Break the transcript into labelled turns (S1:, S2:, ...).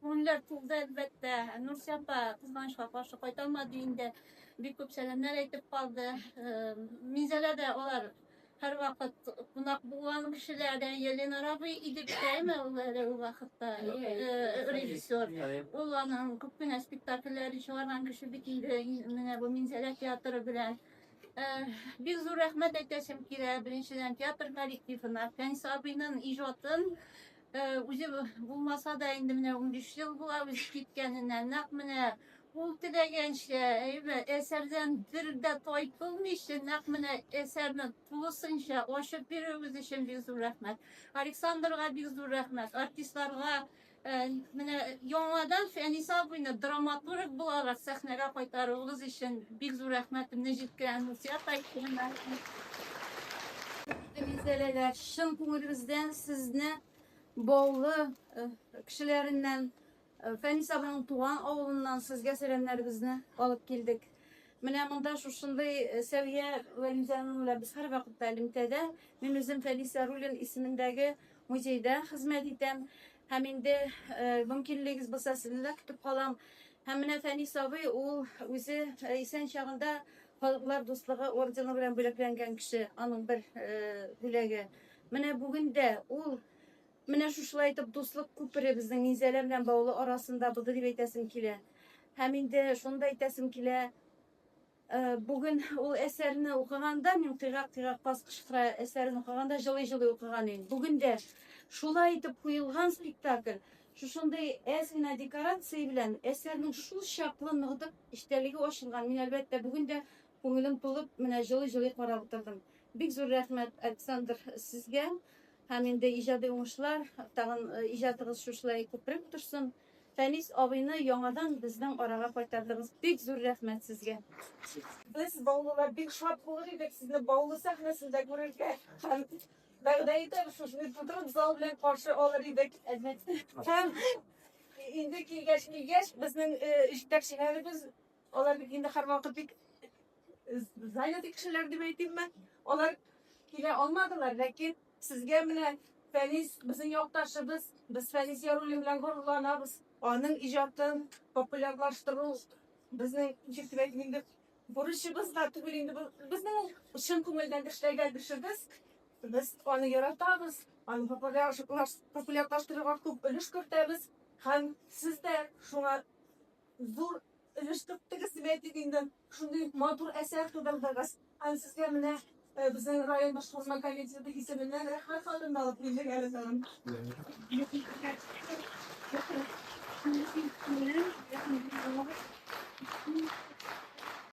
S1: Күңелләр тулды, әлбәттә. Нурсия апа кызганычка каршы кайталмады инде. Бик күп сәламнәр әйтеп калды. Минзәлә дә алар һәрвакыт кунак булган кешеләр. Елена Рабый иде бит әйме ул әле ул вакытта режиссер. Ул аның күп кенә спектакльләре чыгарган кеше бит инде менә бу Минзәлә театры белән. Бик зур рәхмәт әйтәсем килә, беренчедән, театр коллективына, Фәнис абыйның иҗатын Үзе булмаса да, инде менә унбиш ел була үзе киткәненә. Нәкъ менә ул теләгәнчә, әйбәт, әсәрдән бер дә тайпылмыйча, нәкъ менә әсәрне тулысынча ачып бирүегез өчен бик зур рәхмәт. Александрга бик зур рәхмәт, артистларга менә яңадан Фәнис абыйны драматург буларак сәхнәгә кайтаруыгыз өчен. Бик зур рәхмәтемне җиткерәм Нурсөя Таһировна. Гүзәләләр, чын күңелебездән сезне Баулы э, кешеләреннән, э, Фәнис абының туган авылыннан сезгә сәламнәребезне алып килдек. Менә монда шушындый э, Сәвия Вәлимзяновна без һәрвакытта элемтәдә. Мин үзем Фәнис Яруллин исемендәге Музейда хезмәт итәм һәм инде мөмкинлегегез булса, сезне дә көтеп калам. Һәм менә Фәнис абый, ул үзе исән чагында Халыклар дуслыгы ордены белән бүләкләнгән кеше, аның бер бүләге. Менә бүген дә ул менә шушылай итеп дуслык күпере безнең Минзәлә белән Баулы арасында булды дип әйтәсем килә. Һәм инде шуны да әйтәсем килә, Бүген ул әсәрне укыганда, мин кыйгак кыйгак баскычкыра әсәрен укыганда җылый-җылый укыган идем. Бүген дә шулай итеп куелган спектакль, шушындый әз генә декорация белән әсәрнең шул чаклы ныгдык эчтәлеге ачылган. Мин әлбәттә бүген дә күңелем тулып, менә җылый-җылый карап утырдым. Бик зур рәхмәт, Александр, сезгә. Һәм инде иҗади уңышлар, тагын иҗатыгыз шушылай күпрәк торсын. Фәнис абыйны яңадан безнең арага кайтардыгыз, бик зур рәхмәт сезгә! Без,
S2: баулылар, бик шат булыр идек сезне Баулы сәхнәсендә күрергә һәм, вәгъдә итәбез, сезне тутырып зал белән каршы алыр идек, әлбәттә. Һәм инде килгәч, килгәч, безнең җитәкчеләребез Алар бит инде һәрвакыт бик занятый кешеләр дип әйтимме. Алар килә алмадылар, ләкин сезгә менә Фәнис безнең якташыбыз, без Фәнис Яруллин белән горурланабыз. Аның иҗатын популярлаштыру безнең җитмәк инде бурычыбыз да түгел инде безнең чын күңелдән эшләгән эшебез. Без аны яратабыз, аны популярлаштыруга күп өлеш кертәбез һәм сез дә шуңа зур Өлеш тоттыгыз, дип әйтик инде. Шундый матур әсәр тудырдыгыз. Һәм сезгә менә э, безнең район башкарма комитеты исеменнән рәхмәт хатын да алып килдек әле тагын.